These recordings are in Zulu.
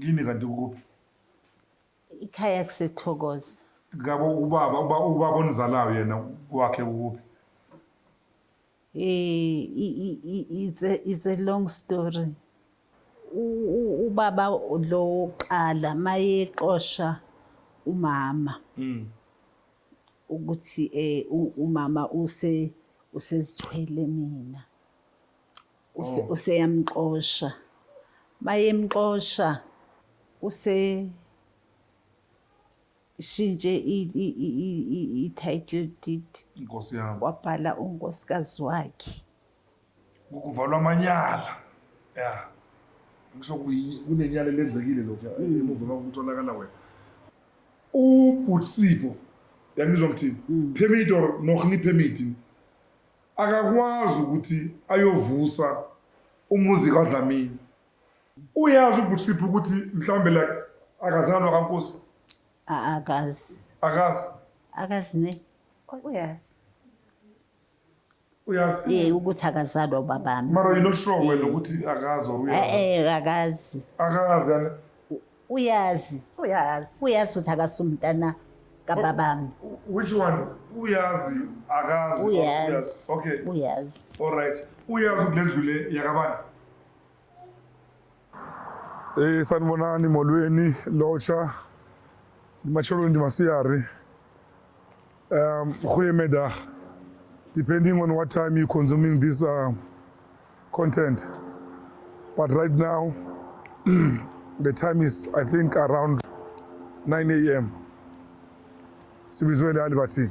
kini kanti ukuphi ikhaya kusethokoza ngabo ubaba uba ubaba onizalayo yena kwakhe ukuphi eh i- i- i- it's a, it's a long story U- u- ubaba lo wokuqala mayexosha umama ukuthi umama usezithwele mina. Oh. Useyamxosha. Mayemxosha use shintshe i-title deed. Inkosi yami. Wabhala unkosikazi wakhe. kuvalwa amanyala ya kunenyala elenzekile lokhu emuva kwakutholakala wena ubhutsipho yangizwa ngithini mm. permit or nohni permit akakwazi ukuthi ayovusa umuzi kadlamini uyazi ubhutsipho ukuthi mhlawumbe like akazalwa kankosi akazi akazi akazi ne uyazi uyazi Eh ukuthi akazalwa ubabami. mara you're not sure wena Eh. ukuthi akazi or Eh uyazi eh akazi. akazi yani Uyazi. uyazi Uyazi ukuthi akasumntana kababami. which one uyazi akazi or Uyazi. okay Uyazi. all right uyazi ukuthi le ndlu le yakabani Eh sanibonani molweni locha macholweni ndi masiyari um goeiemiddag depending on what time you consuming this uh, content but right now the time is i think around 9 am sibizwe lali bathini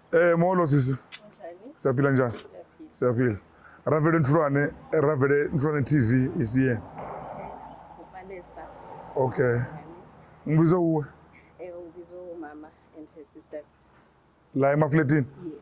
Eh molo sisi. Njani? Siyaphila njani? Siyaphila. Ravele Nthulwane, Ravele Nthulwane TV is here. Ubalesa. Okay. Ngibiza uwe. Eh ubiza umama and her sisters. La emafletini? Yes.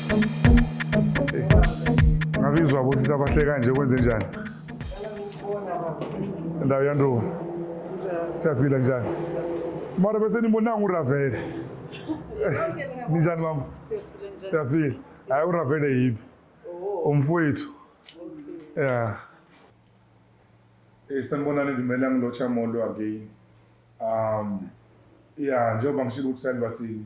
ngabe izwa bosisa abahle kanje kwenze njani ndawo yanduka siyaphila njani mara bese nimbonanga uravele ninjani mama siyaphila hayi uravele yibi umfowethu ya eh, sanibonani ndimele angilotsha molo again um ya njengoba ngishilo ukuthi salibathini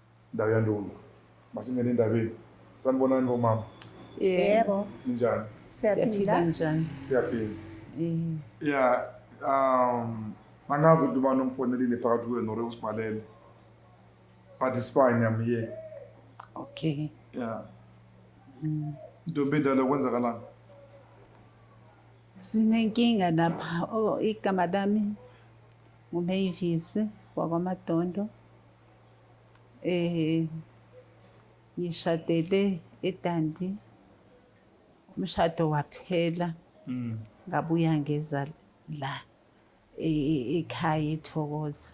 Ndawo yandunu masingene endabeni sanibonani bomama yebo ninjani siyaphila njani siyaphila eh. ya um angazi ukuthi ubani omfonelile phakathi kuyo nore usibhalele but it's fine I'm here okay ya mm. ntombi endala kwenzakalani sinenkinga lapha oh, igama lami ngumeyivisi wakwamadondo Eh ngishadele eDandi. Umshado waphela. Mm. Ngabuya ngeza la e, e, ekhaya eThokoza.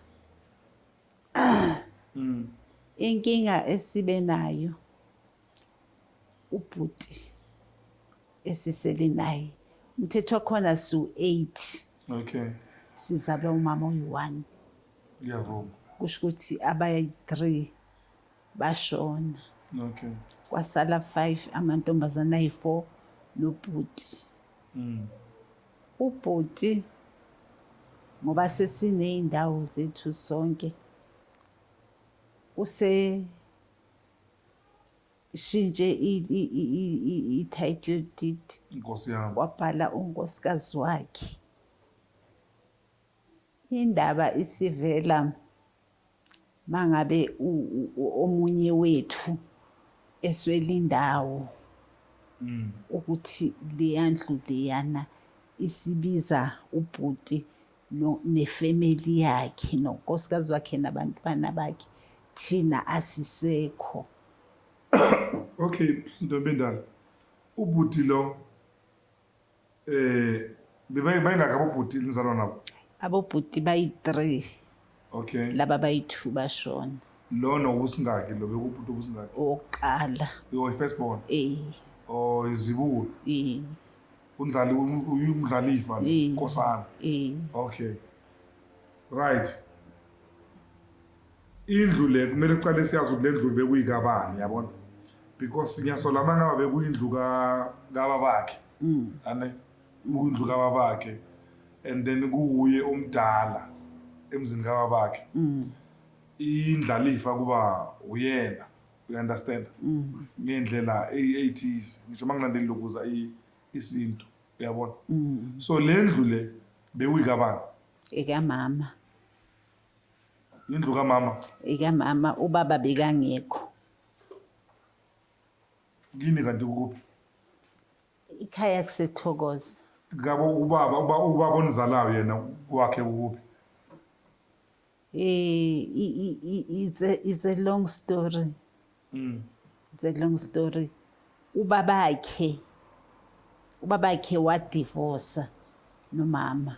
Mm. Inkinga esibe nayo ubhuti esisele naye umthetho wakhona siwu-eight okay sizalwa umama oyi-one ngiyavuma kusho ukuthi abayi-three bashona okay kwasala five amantombazane ayi-four nobhuti mm. ubhuti ngoba sesiney'ndawo zethu sonke use Shintshe i title deed. Nkosi yami. Wabhala unkosikazi wakhe. Indaba isivela mangabe omunye wethu eswela indawo mm. ukuthi leyandlu leyana isibiza ubhuti no ne family yakhe no nkosikazi wakhe nabantwana bakhe thina asisekho. Okay ntombendala ubhuti lo eh bebayingakhi abobhuti enizalwa nabo? Abobhuti bayi-three. Okay. Laba bayi two bashona. Lo nowusingaki lo bekubhuti obusingaki? Owokuqala. Yo first born. Eh. Oh izibulo. Eh. Undlali uyumdlalifa lo eh. Nkosana. Eh. Okay. Right. Indlu le kumele kuqale siyazi ukuthi le ndlu bekuyikabani yabona? Because siyasola mangaba bekuyindlu ka kababakhe. Mm. Ane. Ikundlu kababakhe and then kuwuye omdala emzini kababakhe. Indlalifa kuba uyena u understand ngeyndlela eythize ngisho mangilandeli lokuza isintu uyabona so lendlu le bewuyikabani? Ekamama. Indlu kamama? Ekamama ubaba bekangekho. Kini kanti ukuphi? Ikhaya kusethokoza. Ngabo ubaba uba ubaba onizalayo yena kwakhe ukuphi? Eh, i- i- i- it's a, it's a long story Mm. it's a long story ubabakhe ubabakhe wadivosa nomama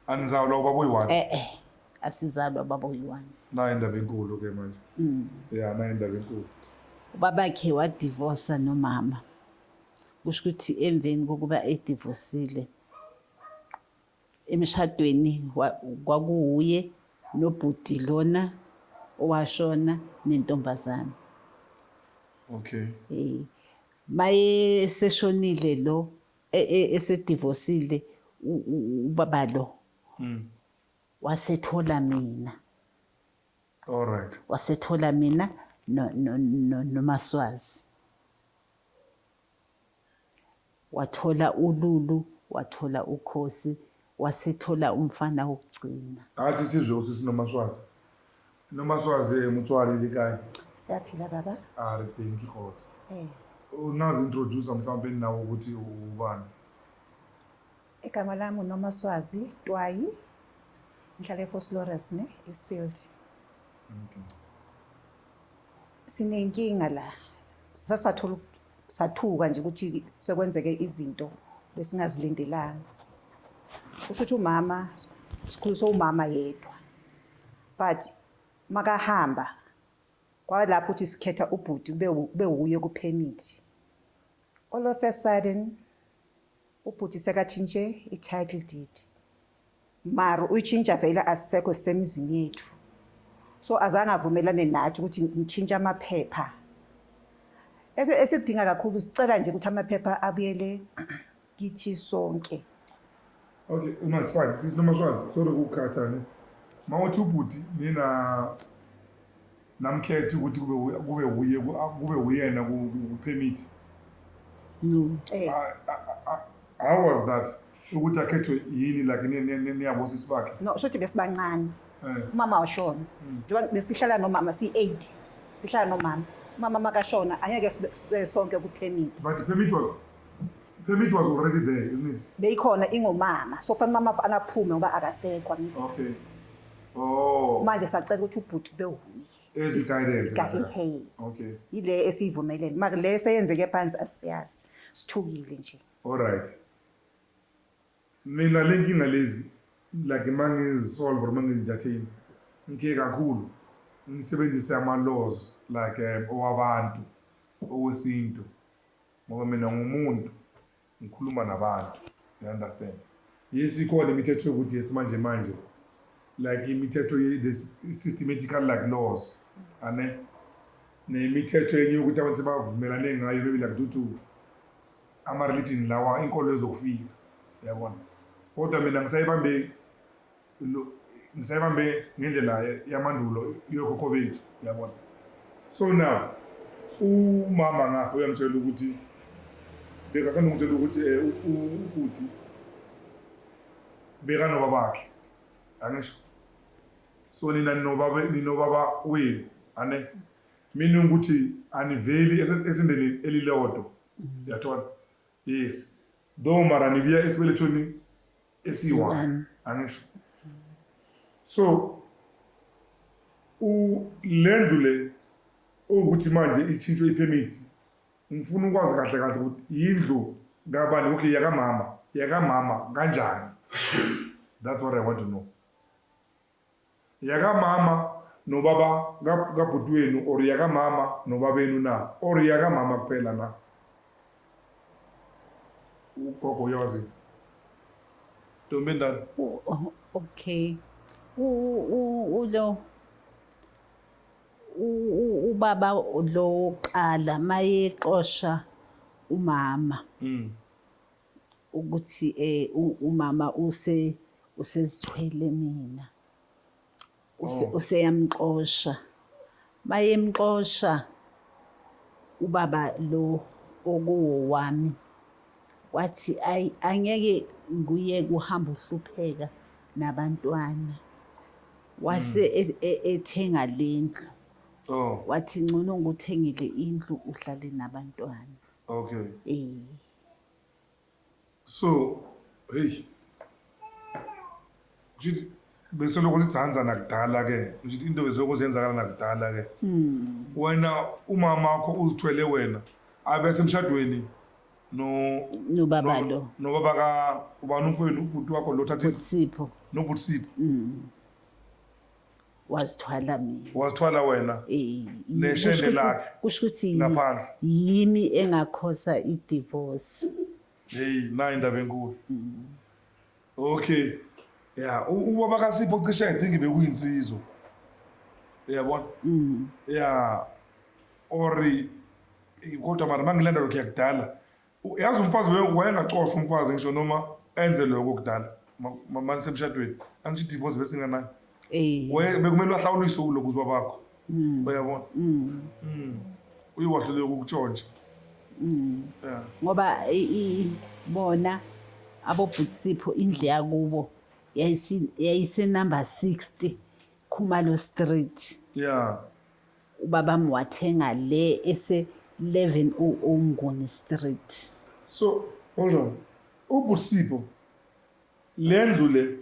Anizalwa ubaba oyi-one? Eh eh. Asizalwa baba oyi-one. Nayo indaba enkulu ke manje. Mm. Yeah, nayo indaba enkulu. Ubabakhe wadivosa nomama. Kusho ukuthi emveni kokuba edivosile emshadweni wa- kwakuwuye nobhuti lona owashona nentombazane. Okay. Eh, maye seshonile lo e, e, esedivosile ubaba lo mm. wasethola mina all right wasethola mina nomaswazi wathola ululu wathola ukhosi wasethola umfana wokugcina athi sizwe usisi nomaswazi Noma swaze mutshwale likayi. Siyaphila baba. Are thank you Khotso. Eh. Ungazi introducer mhlawumbe nawe ukuthi ubani. Igama lami noma swazi Twayi. Ngihlale eFoslores ne Eastfield. Okay. Sinenkinga la. Sasathola sathuka nje ukuthi sekwenzeke izinto besingazilindelanga. Kusho ukuthi umama sikhuliswe umama yedwa. But makahamba kwalapho uthi sikhetha ubhuti kube kube wuye ku permit. All of a sudden ubhuti sekatshintshe i title deed. Mara uyitshintsha vele asisekho sisemizini yethu. So azange avumelane nathi ukuthi ngitshintshe amaphepha. Esikudinga kakhulu sicela nje ukuthi amaphepha abuyele kithi sonke. Okay, uma it's fine. Sisi Nomashwazi, sorry ukukhatha ne. Mawuthi ubhuti nina namkhethi ukuthi kube wu- kube wuye ku- a- kube wuyena ku ku- ku permit. No. Eh, I- I- I- How was that? Ukuthi akhethwe yini like ni- ni- ni- niyabosisi bakhe. no, shothi besibancane. Eh. Umama washona. Mm. Njengoba besihlala nomama si-8. Sihlala nomama. Umama makashona angeke sibe sibe sonke ku-permit. But the permit was Permit was already there, isn't it? Beyikhona ingomama. So fanele mama anaphume ngoba akasekho angithi. Okay. Oh. Manje sacela ukuthi ubhuti kube wuye. Ezi guidance. Kahehe. Okay. Yile esiyivumelene. Maka le seyenzeke phansi asiyazi. Sithukile nje. All right. Mina lenkinga lezi like mangizisolve or mangizidathini ngike kakhulu ngisebenzise ama laws like um, owabantu owesintu Ngoba mina ngumuntu ngikhuluma nabantu you understand. Yes ikhona imithetho yokuthi yesimanje manje like imithetho ye the systematical like laws ane nemithetho enye yokuthi abantu sebavumelane ngayo maybe like due to ama-religion lawa inkolo ezokufika yabona kodwa mina ngisayibambe ngisayibambe ngendlela yamandulo yokhokho bethu yabona so now umama ngapha uyangitshela ukuthi bekasanda ngitshela ukuthi um ubhuti bekanobabakhe angisho so nina ninobaba ninobaba wenu ane mina ukuthi aniveli esindeni elilodwa yathola yes though mara nibuya esibelethweni esiyi-one angisho so le ndlu le ukuthi manje itshintshwe iphemithi ngifuna ukwazi kahle kahle ukuthi yindlu kabani okay yakamama yakamama kanjani that's what i want to know Yakamama nobaba kabhuti wenu or yakamama nobabenu na or yakamama kuphela na? Ugogo uyawazi ntombi endala. Okay. Ulo ubaba lo qala mayexosha umama. Mm. ukuthi umama usezithwele mina oh. useyamxosha mayemxosha ubaba lo okuwowami wathi ayi angeke nguye kuhamba uhlupheka nabantwana wase mm. e, e, ethenga lendlu oh. wathi ngcono ngikuthengele indlu uhlale nabantwana okay eh So, hey. Ngithi beselokhu sidzanza nakudala ke. Ngithi into besilokhu ziyenzakala nakudala ke. Wena umama wakho uzithwele wena abe semshadweni no Nobaba no- lo. Nobaba ka ubani umfowenu ubhuti wakho lo thathe Sipho. nobhuti Sipho. wazithwala mina wazithwala wena neshende lakhe kusho ukuthi ngaphandle yimi engakhosa idivorce hey nayi indaba enkulu okay ya ubaba kasipho cishe i think bekuyinsizwa uyabona mm. ya or kodwa mara mangilanda lokhu yakudala Yazi umfazi wayengacosha umfazi ngisho noma enze lokho kudala manje semshadweni angisho idivorce bese inganayo eh. bekumele wahlawuliswe uloku uzwa bakho hmm. uyabona hmm. Hmm. uye wahluleka ukutshontsha ngoba bona abobhutisipho indle yakubo yayisenumber 60 khumalo street ya Ubabami wathenga le ese 11 u o Nguni street. So hold on ubusipo lendlu le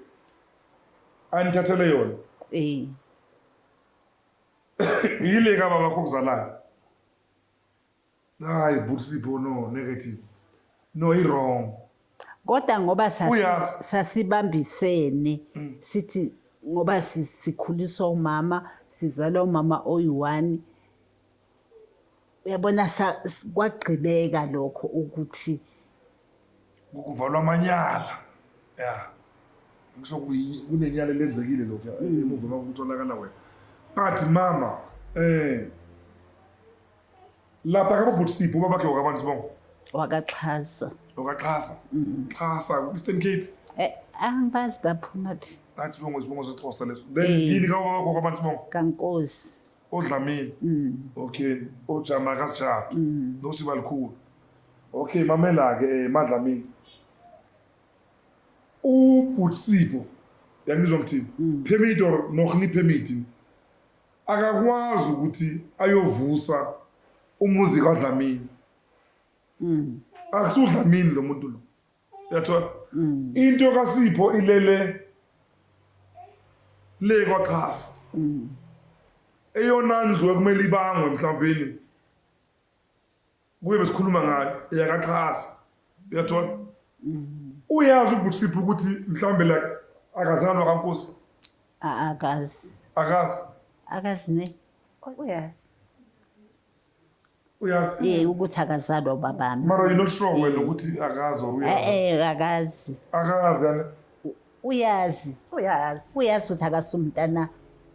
anithathele yona Eyi. yile kababakho okuzalayo. Hayi bhuti Sipho no negative. No i wrong. Kodwa ngoba sasi, Uyaz. sasibambisene Mm. sithi ngoba si- sikhuliswa umama sizalwa umama oyi-one uyabona sa- s- kwagqibeka lokho ukuthi Kuvalwa amanyala. Yeah. Ngisho kuyi- kunenyala elenzekile lokho emuva uma kutholakala wena. But mama eh Lapha ka bhuti Sipho babakhe wakabani sibongo? Wakaxhasa. Wakaxhasa. Mm. Xhasa ku Eastern Cape. Eh angibazi baphuma phi. Nathi sibongo sibongo sexhosa leso. Then eh. yini ka babakho wakabani sibongo? Kankosi. Odlamini. Mm. Okay. Ojama kasijapha. Mm. Nosiba likhulu. Okay mamela ke eh, madlamini. U bhuti Sipho yangizwa ngithini? Mm. Permit or nohni permit? Akakwazi ukuthi ayovusa umuzi kaDlamini. AkusudLamini lo muntu lo. Uyathola? Into kaSipho ilele le kwaXhasa. Eyona ndlu ekumele ibangwe mhlawumbeni kuye besikhuluma ngayo eyakaxhasa uyathola uyazi ubhutisiphi ukuthi mhlawumbe like akazalwa kankosi akazi akazi akazi ne uyazi uyazi eh ukuthi akazalwa ubabami mara you not sure wena ukuthi akazi or uyazi eh, eh akazi akazi Uyazi. Uyazi. Uyazi ukuthi akasi umntana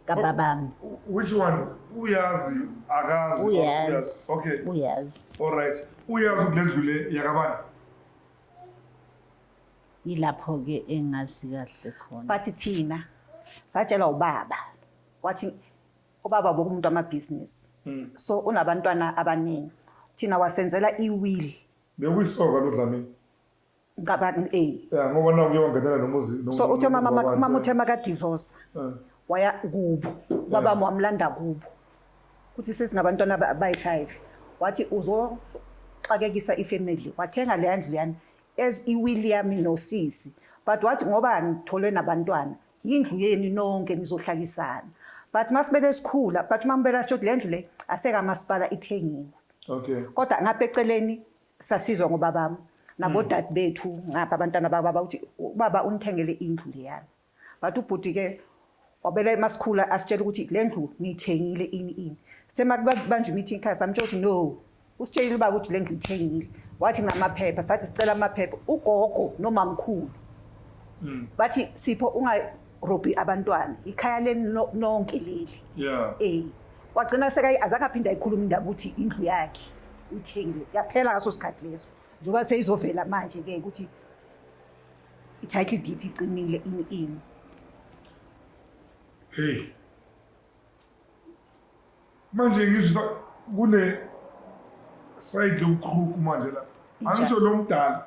kababami. Which one? Uyazi akazi. Uyazi. Uyazi. Okay. Uyazi. All right. Uyazi ukuthi lendlu le yakabani? Yilapho ke engazi kahle khona. Bathi thina satshelwa ubaba wathi ubaba bokumuntu amabhizinisi. Mm. So unabantwana abaningi. Thina wasenzela iwill. Bekuyisoka lo Dlamini. ngicabanga eh Yeah, ngoba naku kuye wangenela nomuzi. no- so uthe nomuzi mama wabantu, mama eh. uthe makadivosa Eh. waya kubo babami wamlanda kubo kuthi sesingabantwana aba- abayi-five wathi uzoxakekisa ifamily wathenga leya ndlu yami as iwili yami nosisi but wathi ngoba ngithole nabantwana yindlu yenu nonke nizohlalisana but masibele sikhula but uma ngibela sisho ukuthi le ndlu le asekamasipala ithengiwe Okay. kodwa ngapha eceleni Sasizwa ngobabam nabodade hmm. bethu ngapha abantwana bababa ukuthi ubaba unithengele indlu leyana. But ubhuti ke wabela emasikhula asitshela ukuthi le ndlu ngiyithengile ini ini. Sithe makubanje meeting khaya samtshela ukuthi no. Usitshelile ubaba ukuthi le ndlu ithengile. Wathi namaphepha sathi sicela amaphepha ugogo nomamkhulu. Hmm. Bathi sipho unga Robbie abantwana ikhaya leni no- nonke leli Yeah. eh wagcina sekayi azange aphinde ayikhuluma indaba ukuthi indlu yakhe uyithengiwe yaphela ngaso sikhathi leso njengoba seyizovela manje ke ukuthi i-title deed icinile ini ini Hey. Manje ngizwisa kune side lokukhruku manje la. Angisho lo mdala.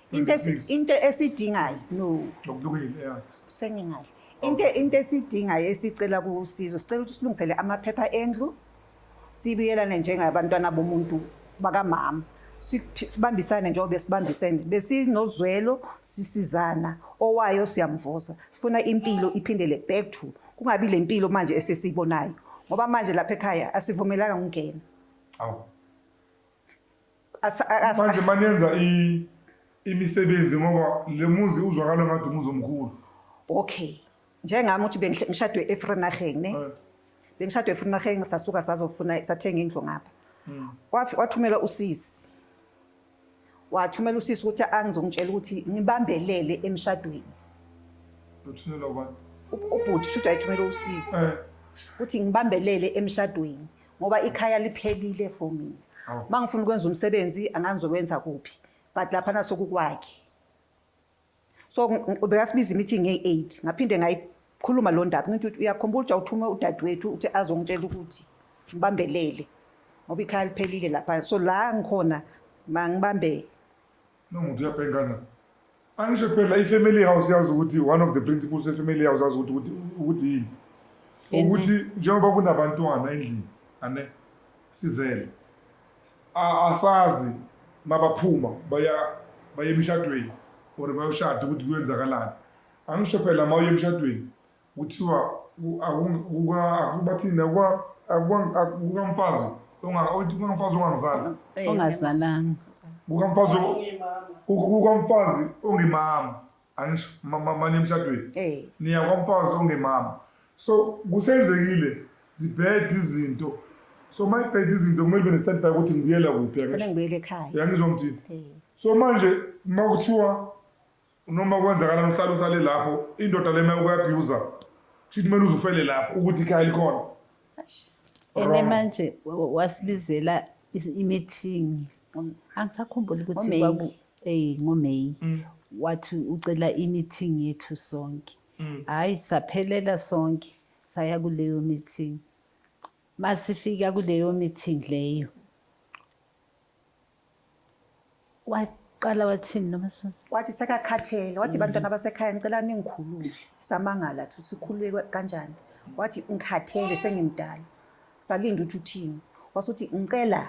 into esi- 26. into esidingayo no Ngokubukile, yeah. sengingale into into esidingayo esicela kusizo sicela ukuthi silungisele amaphepha endlu sibiyelane njengabantwana bomuntu bakamama Siphi- sibambisane njengoba sibambisene besinozwelo sisizana owayo siyamvusa sifuna impilo iphindele back to kungabi le mpilo manje esesiyibonayo ngoba manje lapha ekhaya asivumelanga ukungena Awu. Asa- a- asa- manje manenza i- imisebenzi ngoba le muzi uzwakala ngathi umuzi omkhulu okay njengami ukuthi bengihle- ngishadwe efrenarheng ne Eh, bengishadwe efrenarheng sasuka sazofuna sathenga indlu ngapha mm. Wafi- wathumela usisi wathumela usisi ukuthi angizongitshela ukuthi ngibambelele emshadweni Uthunela ubani? U- ubhuti shuthi wayethumela usisi Eh, ukuthi ngibambelele emshadweni ngoba ikhaya liphelile for mina oh. mangifuna ukwenza umsebenzi angangizowenza kuphi but lapha naso kukwakhe so bekasibiza imeeting ngey-8 ngaphinde ngayikhuluma lo ndaba ngithi ukuthi uyakhumbula ukuthi awuthume udadewethu ukuthi azongitshela ukuthi ngibambelele ngoba ikhaya liphelile lapha so la ngikhona mangibambe No muntu uyafeka ingane. Angisho phela i-family house yazi ukuthi one of the principles ye-family house yazi ukuthi ukuthi ukuthi yini. Yini? Ukuthi njengoba kunabantwana endlini ane sizele. a- Asazi mabaphuma baya baye emshadweni or bayoshada ukuthi kuyenzakalani. Angisho phela mawuye emshadweni Kuthiwa bathini kukamfazi ongangizali. Ongazalanga. Kukamfazi ongemama. Angisho mama emshadweni. Niya kwamfazi ongemama. So kusenzekile zibhede izinto. So uma ibhede izinto kumele ube ne-stand by ukuthi ngibuyela kuphi. Ngibuyela ekhaya. Yangizwa ngithini? So manje uma kuthiwa Noma kwenzakala mhlali uhlale lapho indoda le mayoku abuse kusho kumele uze ufele lapho ukuthi ikhaya likhona ene manje wasibizela imithingi angisakhumbuli ukuthi kwaku eh ngoMay mm. wathi ucela imithingi yethu sonke mm. hayi saphelela sonke saya kuleyo mithingi masifika kuleyo mithingi leyo waqala wathini nomasisi wathi sekakhathele wathi bantwana basekhaya ngicela ningikhulule samangala ukuthi sikhulule kwa- kanjani wathi ngikhathele sengimdala salinda ukuthi uthini wasuthi ngicela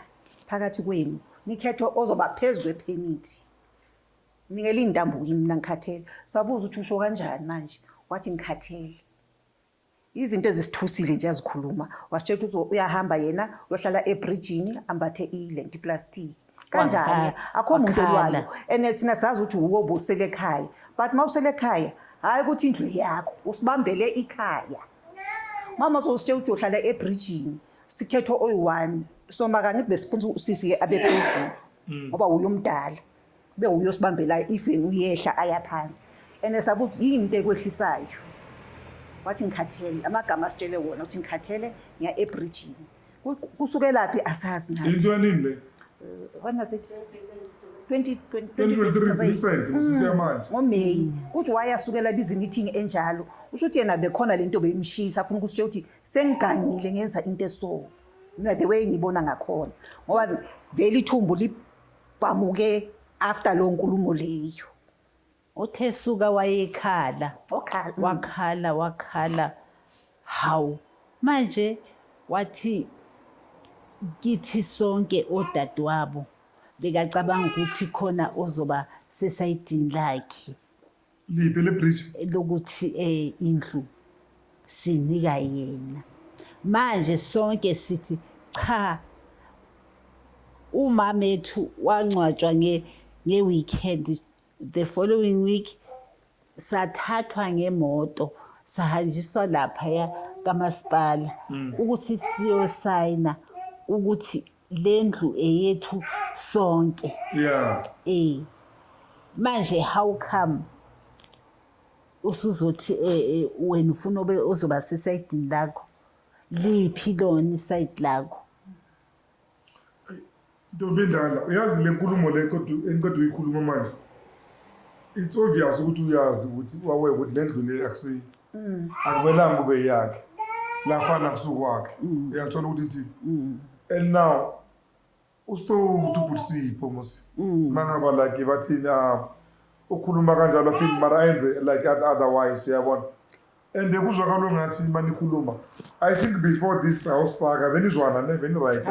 phakathi kwenu nikhethe ozoba phezu kwephemithi nikele iy'ntambo kimi mina ngikhathele sabuza ukuthi usho kanjani manje wathi ngikhathele Izinto ezisithusile nje azikhuluma. Wasitshela ukuthi uzo- uyahamba yena uyohlala ebridgini ambathe ilenti plastic. Kanjani? Wakhala. Akho muntu Wakhala. olwayo. And thina sazi ukuthi wuwe obusele ekhaya. But mawusele ekhaya, hayi ukuthi indlu yakho, usibambele ikhaya. Mama uzositshela ukuthi uyohlala ebridgini. Sikhetho oyi-one. So makangithi besifuna usisi-ke abe phezulu. Ngoba wuye omdala. Kube uyosibambelayo even uyehla aya phansi and esabuza ukuthi yini into ekwehlisayo wathi ngikhathele amagama asitshele wona ukuthi ngikhathele ngiya ebridgini kusukelaphi asazi nathi into yanini le eh, when was it 2023 ngomeyi kuthi wayasukela bizimithingi enjalo usho ukuthi yena bekhona le nto beyimshisa afuna ukuthi ukuthi sengigangile ngenza into eso mina the way ngiyibona ngakhona ngoba vele ithumbu Kwamuke after lo nkulumo leyo. Uthe suka wayekhala. Okhala. mm. Wakhala wakhala. Hawu. Manje wathi kithi sonke odadewabo bekacabanga ukuthi khona ozoba sesayidini lakhe. liphi elebridge lokuthi eh indlu sinika yena manje sonke sithi cha umama ethu wangcwatshwa nge nge-weekend the following week sathathwa ngemoto sahanjiswa laphaya kamasipala ukuthi siyosayina ukuthi Lendlu eyethu sonke. Yeah. Eh. Manje how come usuzothi eh, eh, wena ufuna obe ozoba sesayidini lakho liphi lona isayidi lakho ntombi endala uyazi le nkulumo le qeda- eniqeda uyikhuluma manje it's obvious ukuthi uyazi ukuthi wawe ukuthi le ndlu le akusiyo mm. akumelanga ube yakhe lapha nakusukwakhe mm. uyathola ukuthi ithini mm. and now usitowuthi ubhutisipho musi mm. mangaba like bathini ah, ukhuluma kanjalo aphinde mara ayenze like otherwise uyabona and kuzwakalo ngathi uma nikhuluma i think before this house saka benizwana ne beniright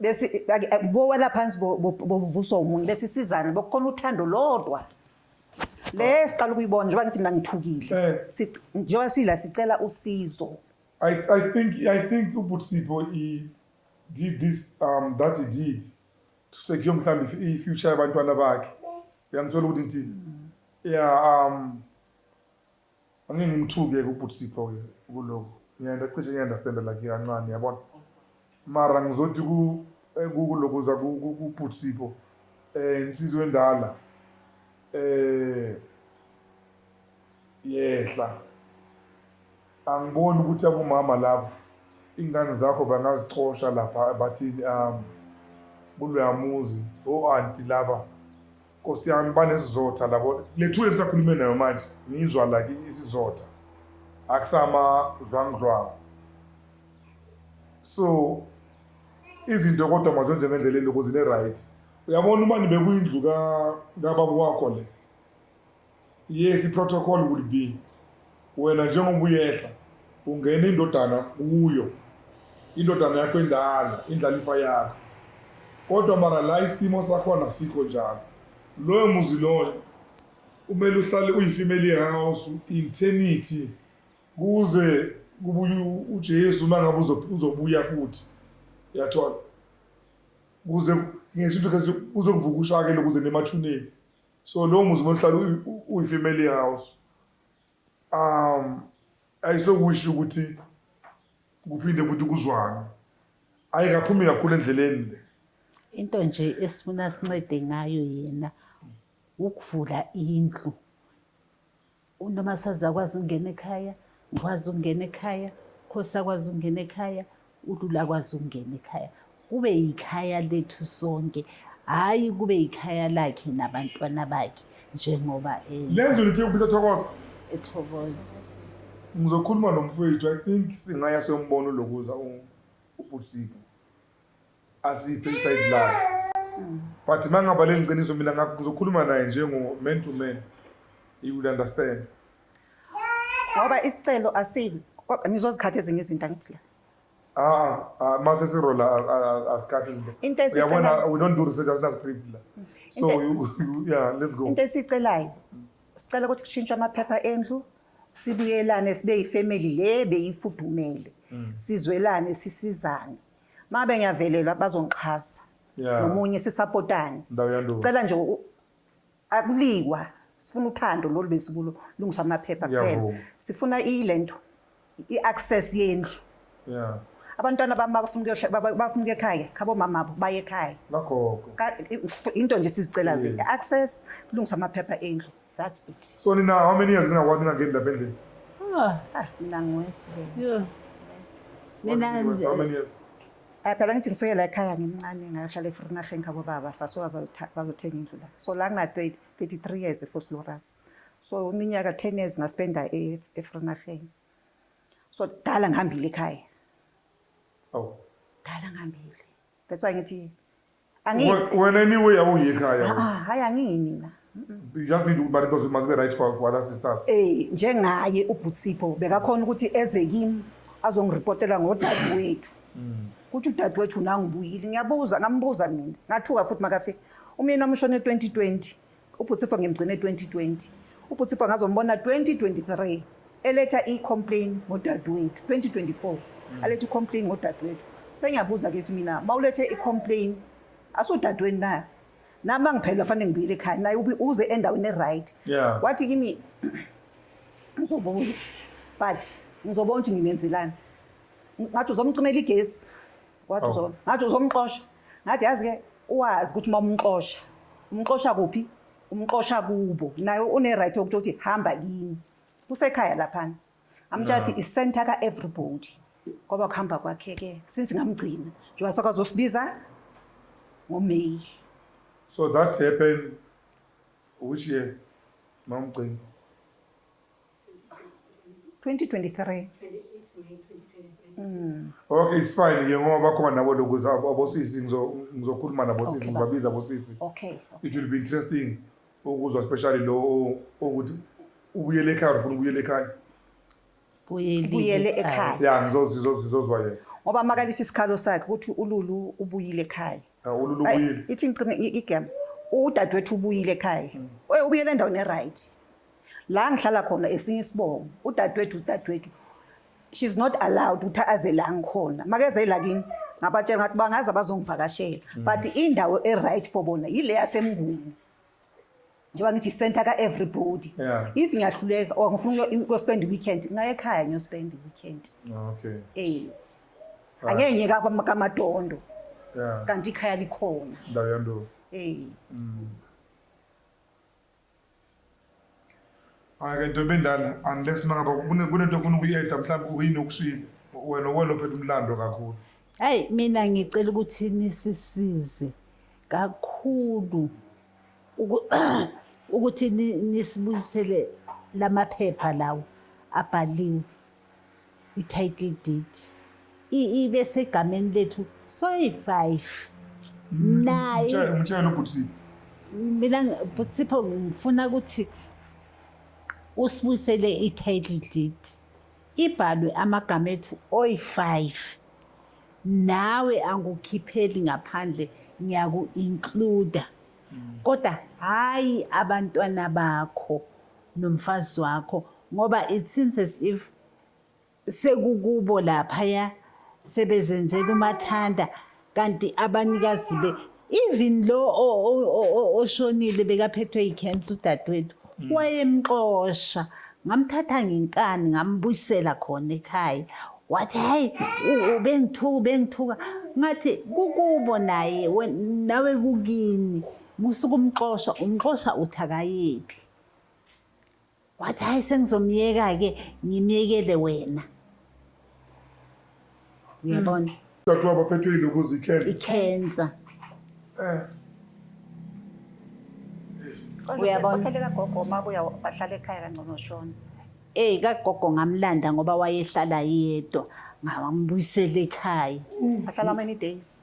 bese bowela phansi bovuswa umunye bese sizana bokukhona uthando lodwa le siqala ukuyibona njengoba ngithi mina ngithukile eh. njengoba sila sicela usizo I, I think I think uButsipo he did this um that he did to secure mhlambi i future yabantwana bakhe uyangithola ukuthi ngithini yeah um Angeke ngimthuke ke ubhuti Sipho ke kulokhu ngiyanda cishe ngiya understand like kancane yabona mara ngizothi ku kuku lokhu za ku ku bhuti Sipho eh insizwa endala eh yehla angiboni ukuthi abomama laba ingane zakho bangazixosha lapha bathini am kuloyamuzi o anti laba Nkosi yami banesizotha labo lethule lisakhulume nayo manje ngiyizwa like isizotha akusama dlwangdlwangu so izinto kodwa mazenze ngendlela eloko zine right uyabona uma nibe kuyindlu ka kababa wakho le Yes, i-protocol would be wena njengoba uyehla ungena indodana kuyo indodana yakho endala indlalifa yakho kodwa mara la isimo sakhona sikho njalo loyo muzi loyo kumele uhlale uyifimeli yehouse internity kuze kubuye ujesu uma ngabe uzobuya futhi yathola kuze ngesintu kuzokuvuka ushakele kuze nemathuneni So lowo muzi bohlala uyi-family house um ayisokusho ukuthi kuphinde futhi kuzwane ayi kaphumi kakhulu endleleni le into nje esifuna sincede ngayo yena ukuvula indlu UNomasazi akwazi ukungena ekhaya, ngikwazi ukungena ekhaya, Khosi akwazi ukungena ekhaya, uLula akwazi ukungena ekhaya. Kube yikhaya lethu sonke, hhayi kube yikhaya lakhe nabantwana bakhe njengoba enza. Le ndlu nithi ukubiza Thokoza? Ethokoza. Ngizokhuluma nomfowethu, I think singaya siyomubona uLokoza ubhuti Sipho. asiphe isayidi lakhe but mangabaleli ngiciniso mina ngakho ngizokhuluma naye njengo man to man he will understand ngoba isicelo asibi kodwa nizozikhatha ezinye izinto angithi la Ah, ah, mase sirola asikhathi izinto. Into esicela uyabona we don't do research asina script la. So Inte, you, you, yeah, let's go. Into esicelayo sicela ukuthi kushintshwe amaphepha endlu sibuyelane sibe yifamily le beyifudumele mm. sizwelane sisizane Mabe ngiyavelelwa bazongixhasa. Yeah. Nomunye sisapotane. Ndawo yandulo. Sicela nje u- akulikwa sifuna uthando lolu besikulo lungiswa amaphepha kuphela. Ngiyavuma. Sifuna ilento i-access yendlu. Yeah. Abantwana bami bafuna ukuyohla- baba- bafuna ukuya ekhaya khabo mama abo baye ekhaya. Nagogo. Ka- i- into nje sizicela Yeah. i-access kulungiswa amaphepha endlu. That's it. So Nina, how many years now what Nina get the building? Oh, ah, Nina ngwesi. Yeah. Yes. Nina how many years? Eh phela ngithi ngisuke la ekhaya ngimncane ngayohlala eFrinaheng khabo baba sasuka sazothenga indlu la. So la ngina 23 years for Sloras. So iminyaka 10 years ngaspenda eFrinaheng. So dala ngihambile ekhaya. Oh. Dala ngihambile. That's why ngithi angithi wena anyway awuyi ekhaya ah, ah, hayi angiyi mina you just need ukuthi bani into must be right for for other sisters eh njengaye ubhutsipho bekakhona ukuthi eze kimi azongirepotela ngodadewethu mm. kuthi udadewethu nangibuyile ngiyabuza ngambuza mina ngathuka futhi makafika umyeni wami ushone 2020 UBhutsipho ngimgcine 2020. UBhutsipho ngazombona 2023 eletha i-complain ngodadewethu 2024 mm. aletha i-complain ngodadewethu sengiyabuza ke ukuthi mina mawulethe i-complain asudadweni nayo nami angiphelelwa fanele ngibuyele ekhaya naye uze endaweni e-right wathi kimi ngizobuya but ngizobona ukuthi nginenzelani ngathi uzomcimela igesi wathi oh. ngathi uzomxosha ngathi yazi-ke Wazi ukuthi uma umxosha umxosha kuphi umxosha kubo naye une-right yokuthi uthi hamba kini kusekhaya laphana amtshati isenta ka-everybody kwaba kuhamba kwakhe-ke since ngamgcina njengoba sakazosibiza ngomeyi So that happened which year, Mamgcini? 2023 mm. Okay, it's fine ke ngoba bakhona nabo lokuza abosisi ngizokhuluma nabosisi ngibabiza abosisi. Okay. It will be interesting ukuzwa especially lo ukuthi ubuyele ekhaya ufuna ubuyele ekhaya. Buyele ekhaya. Yeah, ngizozizozwa yena. Ngoba makalithi isikhalo sakhe ukuthi uLulu ubuyile ekhaya. Hawu uLulu Ay, ubuyile. ithi ngicime i- igama udadewethu ubuyile ekhaya Oy, ubuyele endaweni eright la ngihlala khona esinye isibongo udadewethu udadewethu she's not allowed ukuthi aze la ngikhona makeze la kimi ngabatshela ngathi bangaze bazongivakashela but indawo eright for bona yile yasemnguni njengoba ngithi i-center ka-everybody yeah. if ngiyahluleka or ngifuna ukuyospend i-weekend ngaye ekhaya ngiyospend i-weekend ah, okay. eh right. angeke ngiye kamatondo yeah. kanti ikhaya likhona ndawo yandulo eh mm. ake nto bendala unless mangaba kunento ofuna ukuyeda mhlawumbe uyini okushile wena welophetha umlando kakhulu hayi mina ngicela ukuthi nisisize kakhulu ukuthi nisibuyisele lamaphepha lawo abhaliwe i-title deed ibe segameni lethu soyi-five mm, naye umtshele ubhutisipho mina bhutisipho ngifuna ukuthi usibuyisele i-title deed ibhalwe amagama ethu oyi-five nawe angukhipheli ngaphandle ngiyaku includer kodwa hayi abantwana bakho nomfazi wakho ngoba it seems as if sekukubo laphaya sebezenzela umathanda kanti abanikazi be even lo oshonile bekaphethwe ikhensa udadewethu mm. wayemxosha ngamthatha ngenkani ngambuyisela khona ekhaya wathi hayi ubengithuka ubengithuka ngathi kukubo naye nawe kukini musuke umxosha umxosha uthi akayephi wathi hhayi sengizomyeka-ke ngimyekele wena uyabona Dadewabo aphethwe yilokuza ikhensa. ikhensa Eh. Kodwa Uyabona? bakhele kagogo uma kuya bahlala ekhaya kangcono shona. eyi kagogo ngamlanda ngoba wayehlala yedwa ngambuyisela ekhaya Bahlala many days.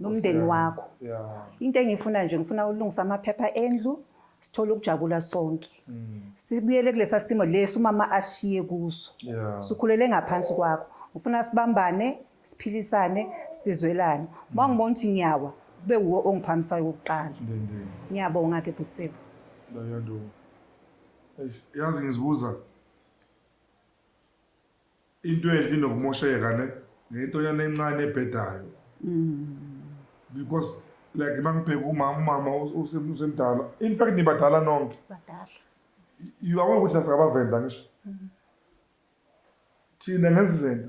nomndeni wakho into engiyifuna nje ngifuna ulungisa amaphepha endlu sithole ukujabula sonke mm. sibuyele kulesa simo lesi umama ashiye kuso sikhulele ngaphansi kwakho ngifuna sibambane siphilisane sizwelane uma mm. ngibona ukuthi ngiyawa kube wuwo ongiphamisayo wokuqala ngiyabonga ke bhutisebo yazi ngizibuza Into enhle inokumosheka ne ngentonyana encane ebhedayo because like mangibheka umama umama usemdala in fact nibadala nonke you aware ukuthi asikabavenda ngisho thina ngesivenda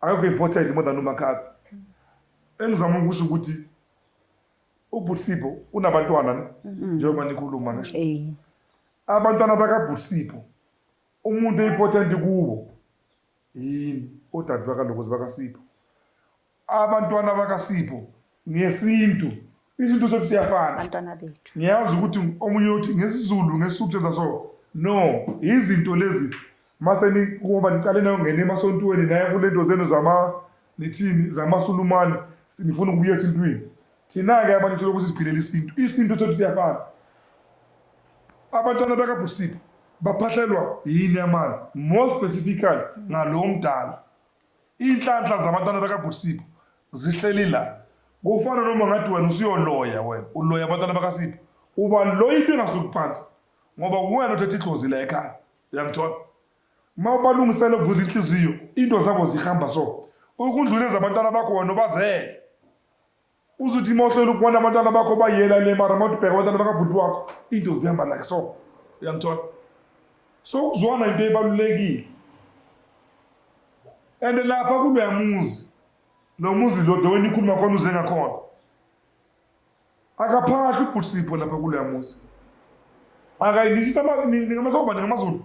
Akekho important more than uMakhadzi. Engizama ukusho ukuthi ubhuti Sipho unabantwana ne njengoba nikhuluma ngisho. Eh. Abantwana bakabhuti Sipho umuntu oimportant kuwo yini odade bakalokozi bakaSipho. Abantwana bakaSipho ngesintu isintu sethu siyafana bantwana bethu ngiyazi ukuthi omunye uthi ngesizulu ngesisuku senza so no izinto lezi mase ngoba niqale nayo ngene emasontweni naye kule nto zenu zama nithini zamasulumane sinifuna ukubuya esintwini thina-ke abantu solokhu siziphilela isintu isintu sethu siyafana abantwana bakabhusipho baphahlelwa yini amanzi more specifically ngalo mdala Iy'nhlanhla zabantwana bakaBhuti Sipho zihleli la. Kufana noma ngathi wena usuyoloya wena, uloya abantwana bakaSipho. Uba loya into engasuki phansi ngoba uwena othethe idlozi la ekhaya. Uyangithola? Uma ubalungisela ukuvula inhliziyo, into zabo zihamba so. Ukundlula ezabantwana bakho wena ubazele. Uzuthi mawuhlola ukubona abantwana bakho bayela le mara mawuthi ubheka abantwana bakabhuti wakho into zihamba like so uyangithola so ukuzwana into ebalulekile and lapha kuloya muzi lo muzi lo dewena ikhuluma khona uze ngakhona akaphahli ubhuti sipho lapha kuloya muzi akayilishisa ningamahloba ningamazulu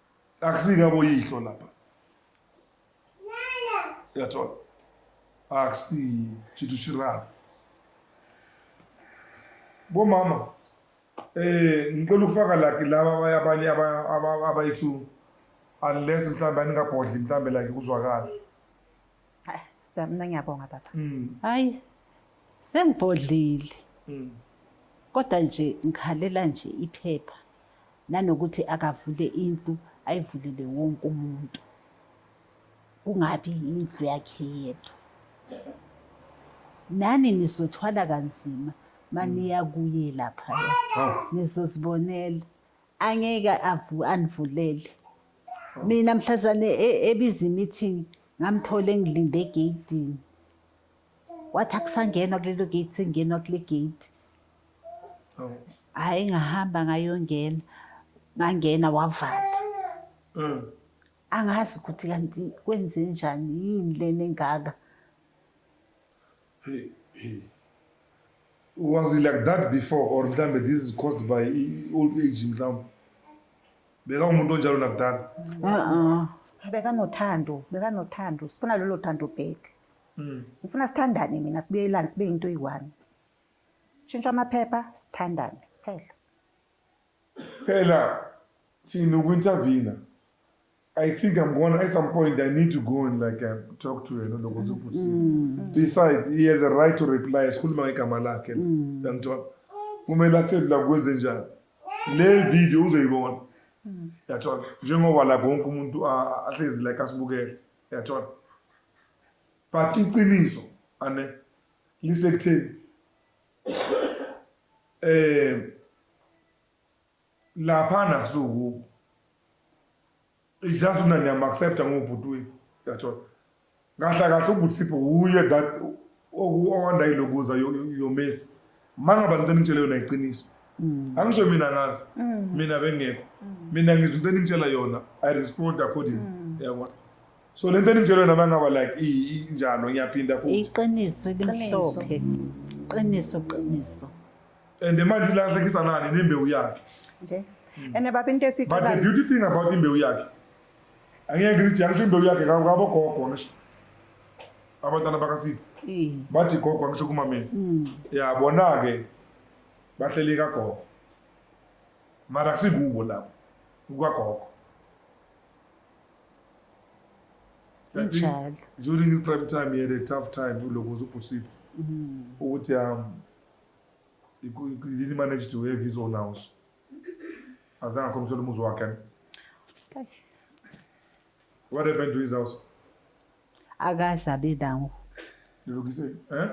akusingabo yihlo lapha uyathola akusiyi chithu shirana bomama eh ngicela ukufaka laki laba abanye abayithu unless mhlawumbe aningabhodli mhlawumbe like kuzwakala Hayi, Siyabonga, mina ngiyabonga baba. Hayi sengibhodlile. Kodwa nje ngikhalela nje iphepha nanokuthi akavule indlu ayivulele wonke umuntu. Kungabi indlu yakhe yedwa. Nani nizothwala kanzima maniya kuye lapha. Nizozibonela. Angeke avu anivulele. Mina mhlazane e- ebiza imeeting ngamthola engilinde egeyidini. Wathi akusangenwa kulelo gate sengenwa kule gate. Awu. Hhayi ngahamba ngayongena. Ngangena wavala. Mm. Angazi ukuthi kanti kwenzenjani yini lena engaka. Hey, hey. Was he like that before or mhlambe this is caused by i- old age mhlawumbe? Beka umuntu onjalo nakudala. Uh-uh. bekanothando bekanothando sifuna lolo thando back Mm. ngifuna sithandane mina sibuyelane sibe yinto eyi-one shintsha amaphepha sithandane phela Phela thina uku intervene I think I'm gonna at some point I need to go and like uh, talk to yena lokho ukuthi mm. beside he has a right to reply sikhuluma ngegama lakhe mm. yangithola kumele asedla kwenze njani le video uzoyibona mm. yathola njengoba la konke umuntu ahlezi like asibukele yathola but iqiniso ane lisekutheni Eh laphana kusuku just mina niyam accept ngubhuti wethu that's all kahle kahle ubhuti sipho wuye that okwanda ilokuza yomesi mangaba into enitshele yona iqiniso mm. angisho mina ngazi mm. mina bengekho mm. mina ngizwe into enitshela yona i respond according yabona so lento eninjelo yona bangaba like injalo ngiyaphinda futhi iqiniso elimhlophe qiniso qiniso and manje lahlekisa nani nembewu yakhe nje ene baba into esicela but the beauty thing about imbewu yakhe angeke ngithi angisho imbewu yakhe ngabo gogo ngisho abantwana bakasipho bathi gogo angisho kumameni mm. ya bona ke bahleli kagogo mara kusikubo lapho kukagogo njalo during his prime time he had a tough time kuloko zubhusiphi mm. ukuthi um didn't manage to have his own house azange akhombisela umuzi wakhe what happened to his house akaze abe nawo lilukise eh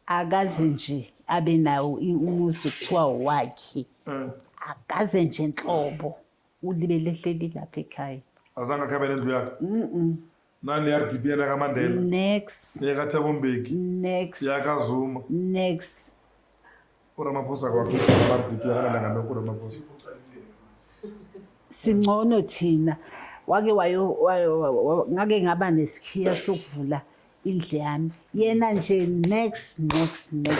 akaze nje abe nawo umuzi kuthiwa wakhe eh. akaze nje nhlobo Ulibele ehleli lapha ekhaya. Azange akhabe nendlu yakhe. Mhm. Nani RDP yana kaMandela. Nex. Yaka Thabo Mbeki. Nex. Yaka Zuma. Nex. URamaphosa kwakho RDP akanalanga nokho uRamaphosa. Singcono thina. Wake wayo wayo- wa- wa- ngake ngaba nesikhiya sokuvula indle yami. Yena nje nex nex nex.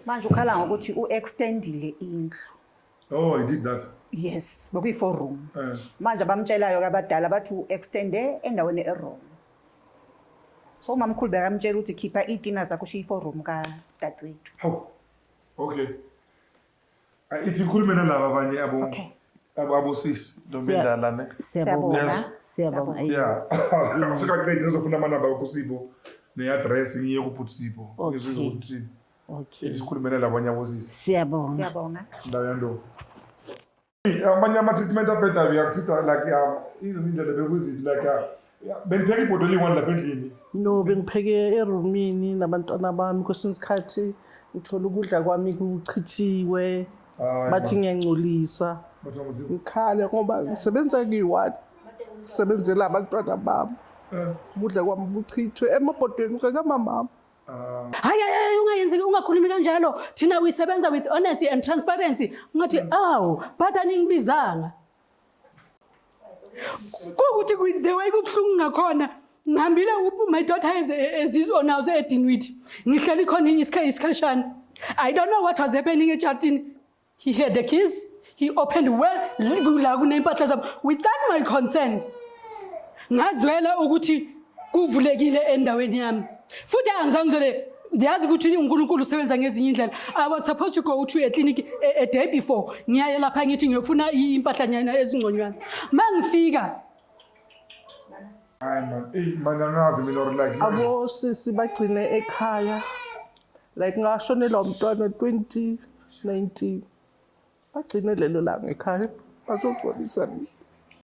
Manje ukhala ngokuthi u-extendile indlu. Oh, he did that. Yes, bokuyi four room. Eh. Manje abamtshelayo ke abadala bathi u-extende endaweni e-wrong. So umamkhulu bekamtshela ukuthi khipha iy'tina zakho ushiye i-four room kadadewethu. Hawu. Okay. Ah, Ithi ikhulume nalaba abanye abo Okay. abo abosisi ntombi Siya- endala ne. Siyabonga. Yes. Siyabonga. Ayi. Yeah. Sikaqedi ngizofuna amanamba akho Sipho ne-address ngiye kubhuti Sipho. Okay. Ngizwe ukuthi Okay. Isikhulumele lapho nyabuzise. Siyabonga. Siyabonga. Ndawo yandobo. Amanye ama treatment abhedayo uyakuthitha like yama. Izindlela bekuziphi like bengipheka ibhodo eliyi-one lapha endlini. No bengipheke eroomini nabantwana bami kwesinye isikhathi ngithola ukudla kwami kuchithiwe bathi ngiyangcolisa. Ngikhale ngoba ngisebenza ngiyi-one. Sebenzela abantwana bami. Eh. Ukudla kwami kuchithwe emabhodweni kakamamami. hayi hayi hayi ungayenzeki ungakhulumi kanjalo thina we sebenza with honesty and transparency ngathi awu but aningibizanga kukuthi ku- the way kubuhlungu ngakhona ngihambile u- my daughter has a- a zizwe now edinwithi ngihleli khona isikha- isikhashana i don't know what was happening etshatini He had the keys. He opened well la kunempahla zabo without my consent. Ngazwela ukuthi kuvulekile endaweni yami. Futhi angizangizwele ndiyazi ukuthi uNkulunkulu usebenza ngezinye indlela. I was supposed to go to a clinic a, a day before. Ngiyaye lapha ngithi ngiyofuna impahla nyana ezingconywana. Mangifika Hayi man, eyi man angazi mina or like abo sisi bagcine ekhaya like ngashonelwa umntwana 2019 bagcine lelo langa ekhaya bazogcwalisa mina